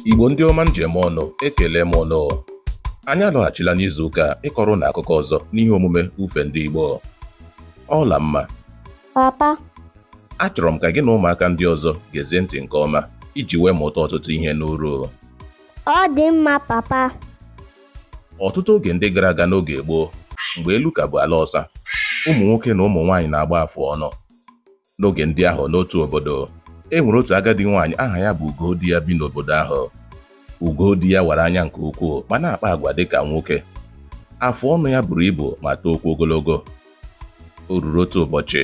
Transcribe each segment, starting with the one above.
Igbo ndị ọma m ji eme ọnụ ekele m unu anyị alọghachila n'izu ụka a ịkọrọ unu akụkọ ọzọ n'ihe omume ifo ndị Igbo Ọlamma papa achọrọ m ka gị na ụmụaka ndị ọzọ gezie ntị nke ọma iji wee mụta ọtụtụ ihe n'uru ọ dị mma papa ọtụtụ oge ndị gara aga n'oge gboo mgbe elu ka bụ ala ọsa ụmụ nwoke na ụmụ nwaanyị na-agba afụ ọnụ n'oge ndị ahụ n'otu obodo e nwere otu agadi nwaanyị aha ya bụ Ugodiya bi n'obodo ahụ Ugodiya wara anya nke ukwuu ma na-akpa agwa dị ka nwoke afụ ọnụ ya buru ibu ma tookwa ogologo o ruru otu ụbọchị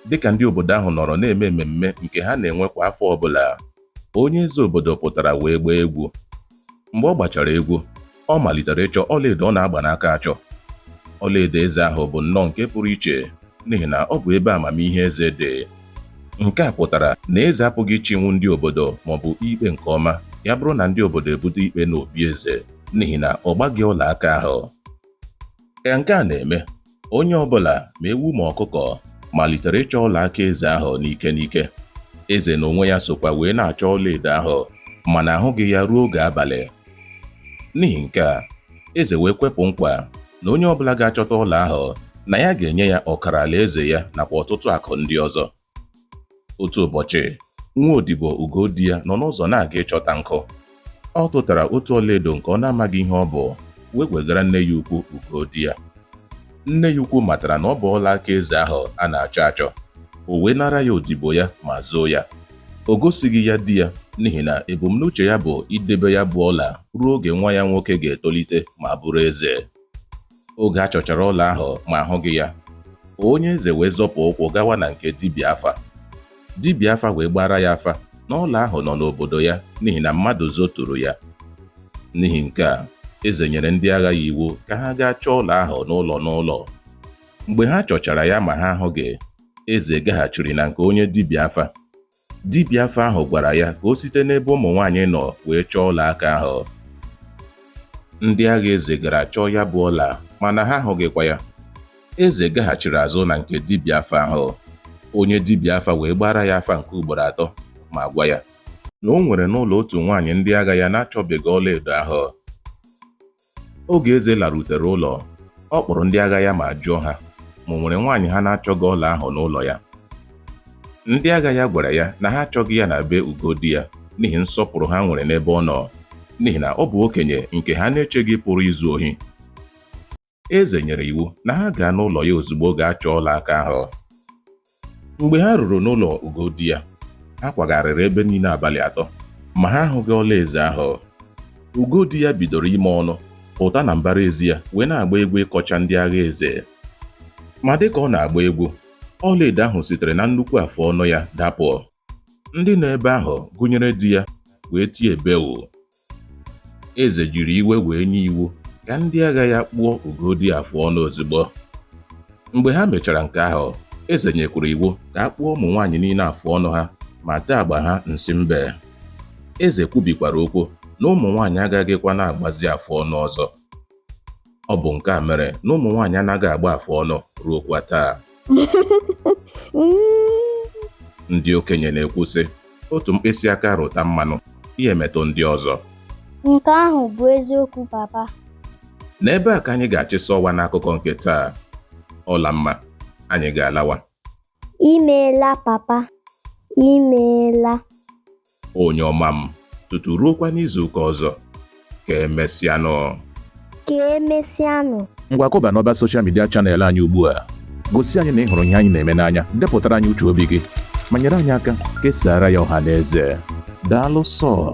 dịka ndị obodo ahụ nọrọ na-eme mmemme nke ha na-enwe kwa afọ ọbụla onye eze obodo pụtara wee gbaa egwu mgbe ọ gbachara egwu ọ malitere ịchọ ọlaedo ọ na-agba n'aka achọ ọlaedo eze ahụ bụ nnọọ nke pụrụ iche n'ihi na ọ bụ ebe amamihe eze dị nke a pụtara na eze apụghị ịchịnwu ndị obodo maọbụ ikpe nke ọma ya bụrụ na ndị obodo ebute ikpe n'obi eze n'ihi na ọ gbaghị ọla aka ahụ ka nke a na-eme onye ọ bụla ma ewu ma ọkụkọ malitere ịchọ ọla aka eze ahụ n'ike n'ike eze n'onwe ya sokwa wee na-achọ ọlaedo ahụ mana ahụghị ya ruo oge abalị n'ihi nke a eze wee kwepụ nkwa na onye ọ bụla ga-achọta ọla ahụ na ya ga-enye ya ọkara alaeze ya nakwa ọtụtụ akụ ndị ọzọ otu ụbọchị nwa odibo Ugodiya nọ n'ụzọ na-aga ịchọta nkụ ọ tụtara otu ọlaedo nke ọ na-amaghị ihe ọ bụ wee wegara nne ya ukwu Ugodiya nne ya ukwu matara na ọ bụ ọla aka eze ahụ a na-achọ achọ o wee nara ya odibo ya ma zoo ya o gosighị ya di ya n'ihi na ebumnuche ya bụ idebe ya bụ ọla ruo oge nwa ya nwoke ga-etolite ma bụrụ eze oge a chọchara ọla ahụ ma ahụghị ya onye eze wee zọpụ ụkwụ gawa na nke dibịa afa dibịa afa wee gbaara ya afa na ọla ahụ nọ n'obodo ya n'ihi na mmadụ zoturu ya n'ihi nke a eze nyere ndị agha ya iwu ka ha gaa chọọ ọla ahụ n'ụlọ n'ụlọ mgbe ha chọchara ya ma ha ahụghị eze gaghachiri na nke onye dibịa afa Dibịa afa ahụ gwara ya ka o site n'ebe ụmụ nwaanyị nọ wee chọọ ọla aka ahụ. Ndị agha eze gara chọọ ya bụ ọla mana ha ahụghịkwa ya. Eze gaghachiri azụ na nke dibịa afa ahụ. Onye dibịa afa wee gbaara ya afa nke ugboro atọ ma gwa ya na o nwere n'ụlọ otu nwaanyị ndị agha ya na-achọbeghị ọlaedo ahụ. oge eze larutere ụlọ ọ kpọrọ ndị agha ya ma jụọ ha ma o nwere nwaanyị ha na-achọghị ọla ahụ n'ụlọ ya ndị agha ya gwara ya na ha achọghị ya na be Ugodiya n'ihi nsọpụrụ ha nwere n'ebe ọ nọ n'ihi na ọ bụ okenye nke ha na-echeghị pụrụ izu ohi eze nyere iwu na ha gaa n'ụlọ ya ozugbo gaa chọọ ọla aka ahụ mgbe ha ruru n'ụlọ ugodiya ha kwagharịrị ebe niile abalị atọ ma ha ahụghị ọla eze ahụ ugodiya bidoro ime ọnụ pụta na mbara ezi ya wee na-agba egwu ịkọcha ndị agha eze ma dịka ọ na-agba egwu ọlaedo ahụ sitere na nnukwu afụ ọnụ ya dapụ ndị nọ ebe ahụ gụnyere di ya wee tie bewu Eze jiri iwe wee nye iwu ka ndị agha ya kpụọ Ugodiya afụ ọnụ ozugbo. Mgbe ha mechara nke ahụ, eze nyekwuru iwu ka a kpụọ ụmụ nwaanyị niile afụ ọnụ ha ma tee agba ha nsị mbe. Eze kwubikwara okwu na ụmụ nwaanyị agaghịkwa na-agbazi afụ ọnụ ọzọ. Ọ bụ nke a mere na ụmụ nwaanyị anaghị agba afụ ọnụ ruokwa taa. Ndị okenye na-ekwu sị, otu mkpịsị aka rụta mmanụ, ya emetụ ndị ọzọ. Nke ahụ bụ eziokwu papa. N'ebe a ka anyị ga-achịsa ọwa n'akụkọ nke taa. Ọlamma, anyị ga-alawa. Imeela papa. Imeela. Onye ọma m, tutu ruokwa n'izu ụka ọzọ. Ka emesịanụ. Ka emesịanụ. Ngwa kụba n'ọba soshal midia chanel anyị ugbu a. Gosi anyị na ị hụrụ ihe anyị na-eme n'anya, depụtara anyị uche obi gị, ma nyere anyị aka kesaara ya ọha na eze. Daalụ sọ.